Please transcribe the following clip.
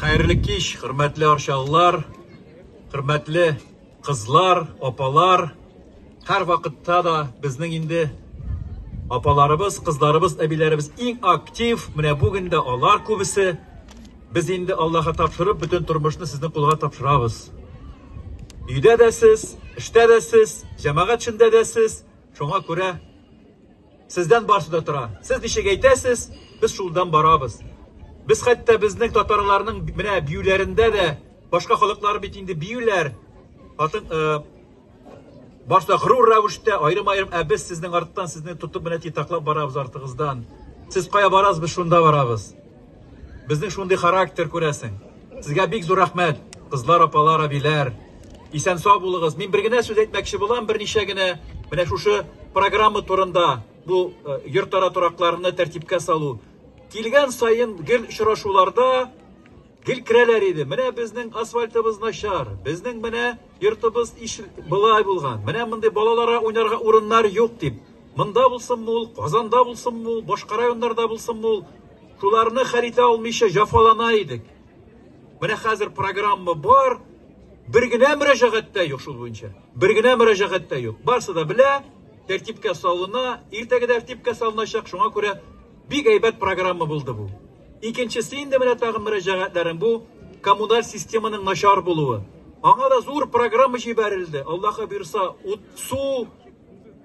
Хәерле кич, хөрмәтле арчалылар, хөрмәтле кызлар, апалар. Һәр вакытта да безнең инде апаларыбыз, кызларыбыз, әбиләребез иң актив. Менә бүген дә алар күбесе. Без инде Аллаһка тапшырып, бөтен тормышны сезнең кулга тапшырабыз. Өйдә дә сез, эштә дә сез, җәмәгать эшендә дә сез. Шуңа күрә Сездән барсы да тора. Сез ничек әйтәсез, без шулдан барабыз. Без хәтта безнең татарларның менә биюләрендә дә башка халыклар бит инде биюләр. Хатын э, башта гырур рәвештә аерым-аерым, ә без сезнең арттан сезне тотып менә титаклап барабыз артыгыздан. Сез кая барасыз, без шунда барабыз. Безнең шундый характер күрәсең. Сезгә бик зур рәхмәт, кызлар, апалар, әбиләр. Исән сау булыгыз. Мин бер генә сүз әйтмәкче булам, берничә генә. Менә шушы программа турында бу э, йортара торакларны тәртипкә салу. Килгән саен гел очрашуларда гел керәләр иде. Менә безнең асфальтыбыз начар, безнең менә йортыбыз иш былай булган. Менә мондый балаларга уйнарга урыннар юк дип. Монда булсынмы ул, Казанда булсынмы ул, башка районнарда булсынмы ул, шуларны хәл итә алмыйча җафалана идек. Менә хәзер программа бар, бер генә мөрәҗәгать тә юк шул буенча. Бер генә мөрәҗәгать тә юк. Барсы да белә, тәртипкә салына, иртәгә тәртипкә салыначак. Шуңа күрә бик әйбәт программа булды бу. Икенчесе инде менә тагын мөрәҗәгатьләрем бу коммуналь системаның начар булуы. Аңа да зур программа җибәрелде. Аллаһы бирса, ут, су,